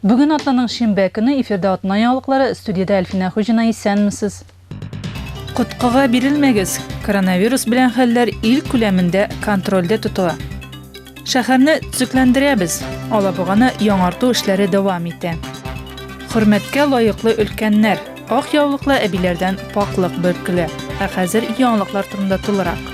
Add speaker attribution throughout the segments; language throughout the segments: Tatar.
Speaker 1: Бүген атнаның шимбә көне эфирда атна яңалыклары, студиядә Әлфинә Хуҗина исәнмесез. Коткыга бирелмәгез, коронавирус белән хәлләр ил күләмендә контрольдә тотыла. Шәһәрне төзекләндерәбез, Алабуганы яңарту эшләре дәвам итә. Хөрмәткә лаеклы өлкәннәр, ак яулыклы әбиләрдән пакълык бөркелә. Ә хәзер яңалыклар турында тулырак.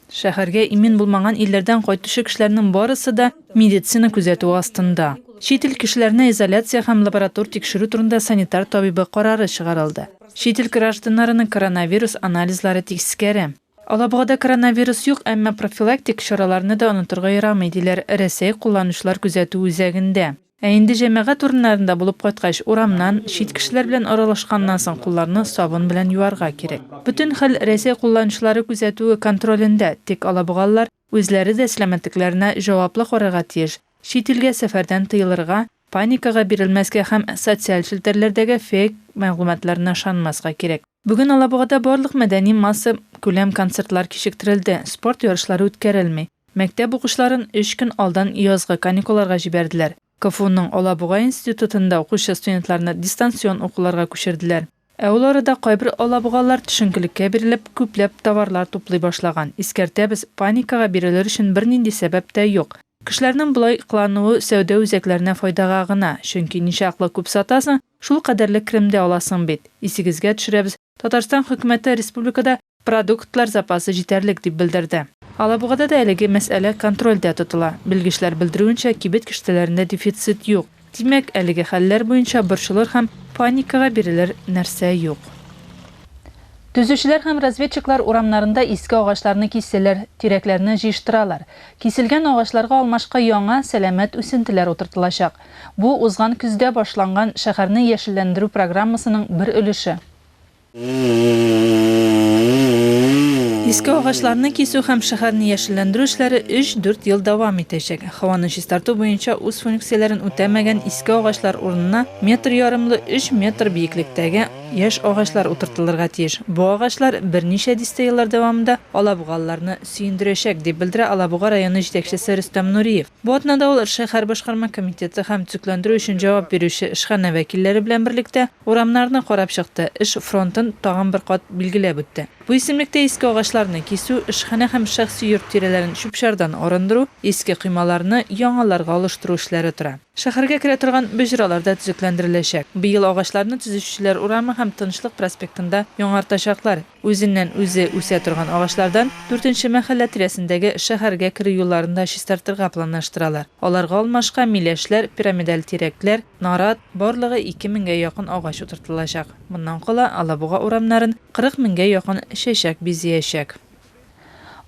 Speaker 1: Шәһәргә имин булмаган илләрдән кайтучы кешеләрнең барысы да медицина күзәтүе астында. Чит ил кешеләренә изоляция һәм лаборатор тикшерү турында санитар табибы карары чыгарылды. Чит ил гражданнарының коронавирус анализлары тискәре. Алабугада коронавирус юк, әмма профилактик чараларны да онытырга ярамый, диләр Рәсәй кулланучылар күзәтү үзәгендә. Ә инде җәмәгать урыннарында булып кайткач, урамнан, чит кешеләр белән аралашканнан соң кулларны сабын белән юарга кирәк. Бөтен хәл Рәсәй кулланучылары күзәтүе, контролендә, тик алабугалылар үзләре дә сәламәтлекләренә җаваплы карарга тиеш, чит илгә сәфәрдән тыелырга, паникага бирелмәскә һәм социаль челтәрләрдәге фейк мәгълүматларына ышанмаска кирәк. Бүген Алабугада барлык мәдәни масса күләм концертлар кичектерелде, спорт ярышлары үткәрелми. Мәктәп укучыларын өч көн алдан язгы каникулларга җибәрделәр. КФУның Алабуга институтында укучы студентларны дистанцион укуларга күчерделәр. Ә ул арада кайбер алабугалылар төшенкелеккә бирелеп, күпләп товарлар туплый башлаган. Искәртәбез, паникага бирелер өчен бернинди сәбәп тә юк. Кешеләрнең болай кылануы сәүдә үзәкләренә файдага гына, чөнки ничаклы күп сатасың, Шул кадәрле крем дә аласың бит. Исегезгә төшерәбез, Татарстан Хөкүмәте республикада продуктлар запасы җитәрлек, дип белдерде. Алабугада да әлеге мәсьәлә контрольдә тотыла. Белгечләр белдерүенчә, кибет киштәләрендә дефицит юк. Димәк, әлеге хәлләр буенча борчылыр һәм паникага бирелер нәрсә юк. Төзүчеләр һәм разведчиклар урамнарында иске агачларны кисәләр, тирәкләрне җыештыралар. Киселгән агачларга алмашка яңа, сәламәт үсентеләр утыртылачак. Бу, узган көздә башланган шәһәрне яшелләндерү программасының бер өлеше. Иске агачларны кисү һәм шәһәрне яшелләндерү эшләре өч-дүрт ел дәвам итәчәк. Һаваны чистарту буенча үз функцияләрен үтәмәгән иске агачлар урынына метр ярымлы өч метр биеклектәге яшь агачлар утыртылырга тиеш. Бу агачлар берничә дистә еллар дәвамында алабугалыларны сөендерәчәк, дип белдерә Алабуга районы җитәкчесе Рөстәм Нуриев. Бу атнада ул шәһәр башкарма комитеты һәм төзекләндерү өчен җавап бирүче эшханә вәкилләре белән берлектә урамнарны карап чыкты, эш фронтын тагын бер кат билгеләп үтте. Бу исемлектә иске агачларны кисү, эшханә һәм шәхси йорт тирәләрен чүп-чардан арындыру, иске коймаларны яңаларга алыштыру эшләре тора. Шәһәргә керә торган боҗралар да төзекләндереләчәк. Быел агачларны төзүчеләр урамы һәм Тынычлык проспектында яңартачаклар. Үзеннән үзе үсә торган агачлардан дүртенче мәхәллә тирәсендәге шәһәргә керү юлларын да чистартырга планлаштыралар. Аларга алмашка миләшләр, пирамидаль тирәкләр, нарат, барлыгы ике меңгә якын агач утыртылачак. Моннан кала Алабуга урамнарын кырык меңгә якын чәчәк бизәячәк.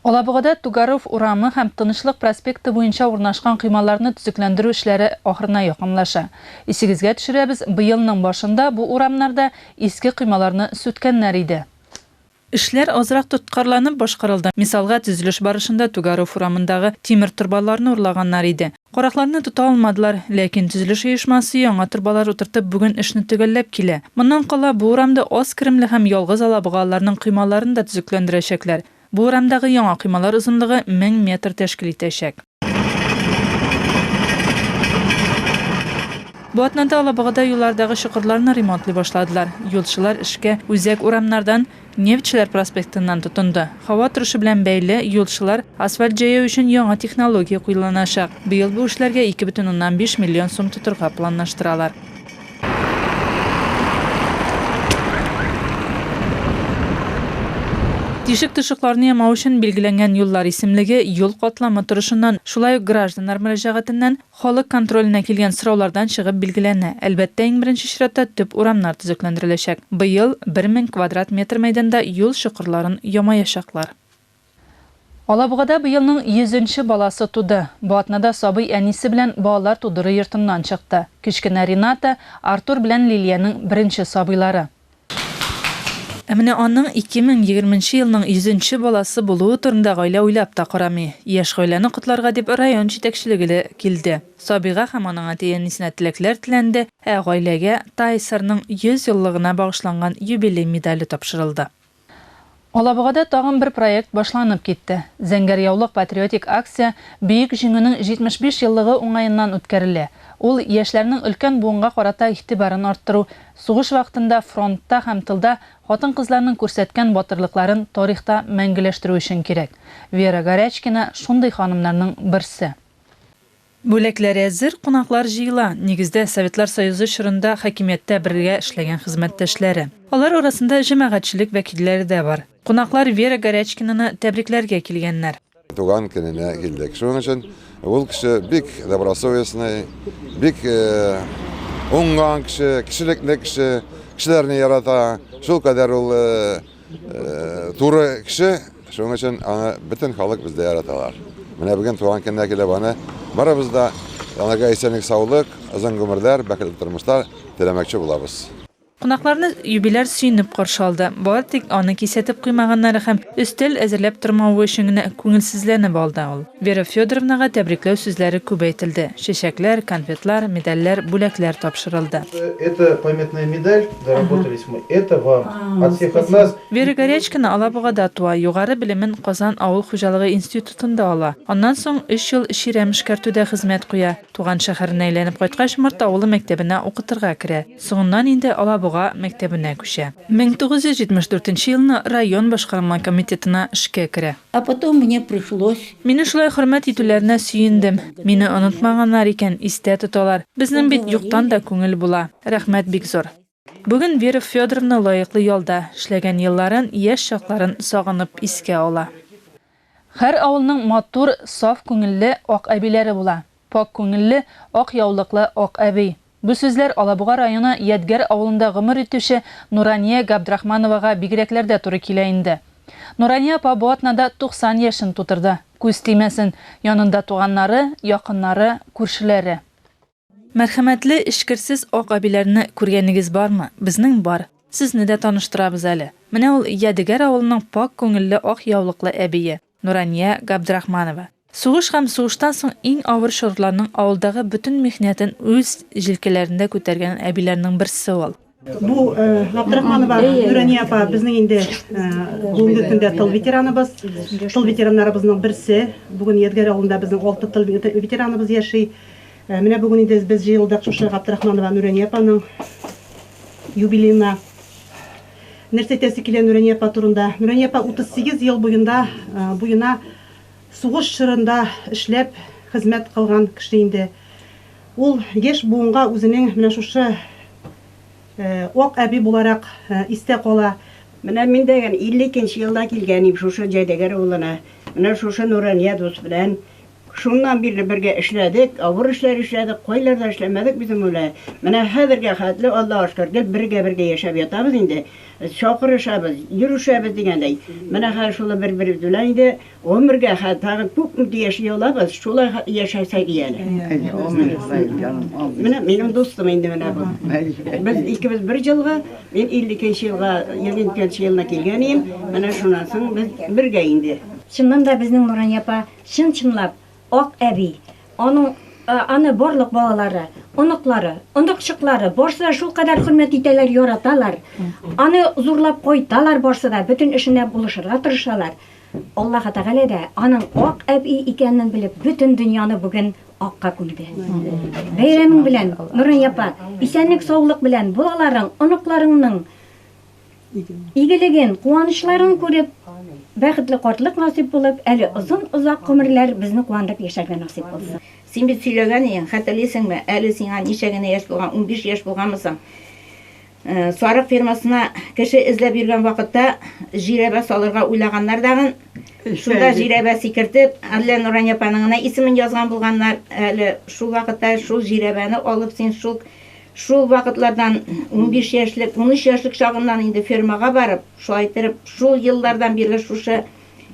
Speaker 1: Алабугада Тугаров урамы һәм Тынычлык проспекты буенча урнашкан коймаларны төзекләндерү эшләре ахырына якынлаша. Исегезгә төшерәбез, быелның башында бу урамнарда иске коймаларны сүткәннәр иде. Эшләр азрак тоткарланып башкарылды. Мисалга, төзелеш барышында Тугаров урамындагы тимер торбаларны урлаганнар иде. Каракларны тота алмадылар, ләкин төзелеш оешмасы яңа торбалар утыртып бүген эшне төгәлләп килә. Моннан кала бу урамда аз керемле һәм ялгыз алабуга аларның коймаларын да төзекләндерәчәкләр. Бу урамдагы яңа коймалар озынлыгы мең метр тәшкил итәчәк. Бу атнада Алабугада юллардагы чокырларны ремонтлый башладылар. Юлчылар эшкә үзәк урамнардан, Нефтьчеләр проспектыннан тотынды. Һава торышы белән бәйле, юлчылар, асфальт җәяү өчен яңа технология куеланачак. Быел бу эшләргә 2,5 миллион сум тотырга планлаштыралар. Тишек-тошыкларны ямау өчен билгеләнгән юллар исемлеге, юл катламы торышыннан, шулай ук гражданнар мөрәҗәгатеннән, Халык контроленә килгән сораулардан чыгып билгеләнә. Әлбәттә, иң беренче чиратта төп урамнар төзекләндереләчәк. Быел бер мең квадрат метр мәйданда юл чокырларын ямаячаклар. Алабугада быелның йөзенче баласы туды. Бу атнада сабый әнисе белән балалар тудыру йортыннан чыкты. Кечкенә Рената, Артур белән Лилиянең беренче сабыйлары. Ә менә аның 2020 нче елның 100 нче баласы булуы турында гаилә уйлап та карамый. Яшь гаиләне котларга дип район җитәкчелеге лә килде. Сабига һәм аның әти-әнисенә теләкләр теләнде, ә гаиләгә ТАИСРның 100 еллыгына багышланган юбилей медале тапшырылды. Алабугада тагын бер проект башланып китте. Зәңгәр яулык патриотик акция Бөек Җиңүнең 75 еллыгы уңаеннан үткәрелә. Ул, яшьләрнең өлкән буынга карата игътибарын арттыру, сугыш вакытында фронтта һәм тылда хатын-кызларның күрсәткән батырлыкларын тарихта мәңгеләштерү өчен кирәк. Вера Горячкина, шундый ханымнарның берсе. Бүләкләр әзер, кунаклар җыела, нигездә, Советлар Союзы чорында хакимияттә бергә эшләгән хезмәттәшләре. Алар арасында җәмәгатьчелек вәкилләре дә бар. Кунаклар Вера Горячкинаны тәбрикләргә килгәннәр. Туган көненә
Speaker 2: килдек. Шуның өчен ул кеше бик добросовестный, бик уңган кеше, кешелекле кеше, кешеләрне ярата. Шулкадәр ул Туры кеше, шуның өчен аны бөтен халык бездә яраталар. Менә бүген туган көненә килеп аны барыбыз да янага исәнлек саулык, озын гомерләр, бәхетле тормышлар теләмәкче булабыз. Кунакларны
Speaker 1: юбиляр сөенеп каршы алды. Бары тик аны кисәтеп куймаганнары һәм өстәл әзерләп тормавы өчен генә күңелсезләнеп алды ул. Вера Федоровнага тәбрикләү сүзләре күп әйтелде, чәчәкләр, конфетлар, медальләр, бүләкләр тапшырылды. Это памятная
Speaker 3: медаль. Заработались мы. Это вам. От всех от нас. Вера Горячкина
Speaker 1: Алабугада туа, югары белемен Казан авыл хуҗалыгы институтында ала. Аннан соң 3 ел чирәм эшкәртүдә хезмәт куя. Туган шәһәренә әйләнеп кайткач, Морт авылы мәктәбенә укытырга керә. Соңыннан инде Алабуга мәктәбенә күчә. 1974 елны район башкарма комитетына эшкә керә. А потом мне
Speaker 4: пришлось. Мине шулай хөрмәт
Speaker 1: итүләренә сөендем. Мине онытмаганнар икән, истә тоталар. Безнең бит юктан да күңел була. Рәхмәт бик зур. Бүген Вера Федоровна лаеклы ялда, эшләгән елларын, яшь чакларын сагынып искә ала. Һәр авылның матур, саф күңелле, ак әбиләре була. Пакь күңелле, ак яулыклы Ак әби. Бу сүзләр Алабуга районы Ядгәр авылында гомер итүче Нурания Габдрахмановага бигрәкләр дә туры килә инде. Нурания апа бу атнада 90 яшен тутырды. Күз тимәсен, янында туганнары, якыннары, күршеләре. Мәрхәмәтле, эчкерсез Ак әбиләрне күргәнегез бармы? Безнең бар. Сезне дә таныштырабыз әле. Менә ул Ядегәр авылының пакь күңелле ак яулыклы әбие. Нурания Габдрахманова сугыш һәм сугыштан соң иң авыр чорларның авылдагы бөтен михнәтен үз җилкәләрендә күтәргән әбиләрнең берсе ул. Бу
Speaker 5: Габдрахманова Нурания апа безнең инде бүгенге көндә тыл ветераныбыз, тыл ветераннарыбызның берсе. Бүген Ядгәр авылында безнең алты тыл ветераныбыз яши. Менә бүген инде без җыелдык шушы Габдрахманова Нурания апаның юбилеена. Нәрсә әйтәсе килә Нурания апа турында? Нурания апа 38 ел буенда буена сугыш чорында эшләп, хезмәт кылган кеше инде. Ул яшь буынга үзенең менә шушы Ак әби буларак истә кала. Менә мин дә
Speaker 6: 52 нче елда килгән идем шушы Җайдәгәр авылына. Менә шушы Нурания дус белән Шуннан бирле бергә эшләдек, авыр эшләр эшләдек, кайларда эшләмәдек без Мулай. Менә хәзергә хәтле, Аллага шөкер, гел бергә-бергә яшәп ятабыз инде. Чакырышабыз, йөрешәбез дигәндәй. Менә хәзер шулай бер-беребез белән инде гомергә хәтле тагын күп үк яши алабыз, шулай яшәсәк ия әле. Менә минем дустым инде менә бу. Без икебез бер җылгы, мин 52 нче елга, 22 нче елына килгән идем, менә шуннан соң без бергә инде. Чыннан да безнең
Speaker 7: Нурания апа Чын-чынлап, Ак әби, аның, аны барлык балалары, оныклары, оныкчыклары, барсы да шулкадәр хөрмәт итәләр, яраталар. Аны зурлап кайталар барсы да, бөтен эшенә булышырга тырышалар. Аллаһы Тәгалә дә, аның Ак әби икәнен белеп, бөтен дөньяны бүген акка күмде. Бәйрәмең белән, Нурания апа! Исәнлек-саулык белән балаларың, оныкларыңның! Игелеген, куанычларын күреп, бәхетле картлык насыйп булып, әле озын-озак гомерләр безне куандырып яшәргә насыйп булсын. Син бит сөйләгән
Speaker 4: идең, хәтерлисеңме, әле сиңа ничә генә яшь булган, унбиш яшь булганмы соң? Сарык фермасына кеше эзләп йөргән вакытта җирәбә салырга уйлаганнар дагын. Шунда җирәбә сикертеп, әллә Нурания апаның гына исемен язган булганнар. Әле шул вакытта шул җирәбәне алып, син шул Шул вакытлардан, унбиш яшьлек, унөч яшьлек чагыннан инде фермага барып, шулай иттереп, шул еллардан бирле шушы,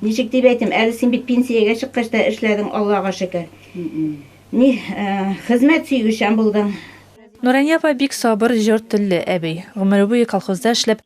Speaker 4: ничек дип әйтим, әле син бит пенсиягә чыккач та эшләдең, Аллага шөкер. Ни, хезмәт сөючән булдың.
Speaker 1: Нурания апа
Speaker 4: бик
Speaker 1: сабыр, җор телле әби. Гомере буе колхозда эшләп,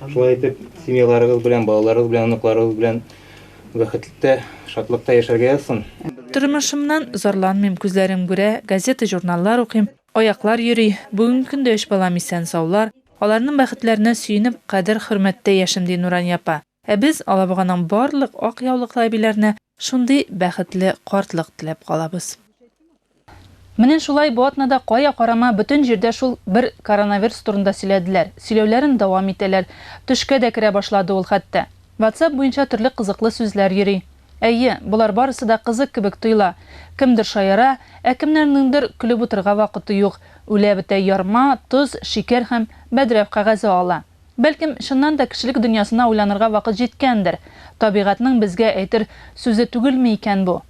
Speaker 8: Шулай итеп, семьяларыгыз белән, балаларыгыз белән, оныкларыгыз белән бәхетлектә, шатлыкта яшәргә язсын. Тормышымнан
Speaker 1: зарланмыйм, күзләрем күрә, газета-журналлар укыйм, аяклар йөри, бүгенге көндә өч балам исән-саулар, аларның бәхетләренә сөенеп, кадер-хөрмәттә яшим, ди Нурания апа. Ә без Алабуганың барлык ак яулыклы әбиләренә шундый бәхетле картлык теләп калабыз. Менә шулай бу атнада кая карама бөтен җирдә шул бер коронаверс турында сөйләделәр, сөйләүләрен дәвам итәләр. Төшкә дә керә башлады ул хәтта. Ватсап буенча төрле кызыклы сүзләр йөри. Әйе, болар барысы да кызык кебек тоела. Кемдер шаяра, ә кемнәрнеңдер көлеп утырырга вакыты юк, үлә бетә ярма, тоз, шикәр һәм бәдрәф кәгазе ала. Бәлкем, чыннан да кешелек дөньясына уйланырга вакыт җиткәндер. Табигатьнең безгә әйтер сүзе түгелме икән бу?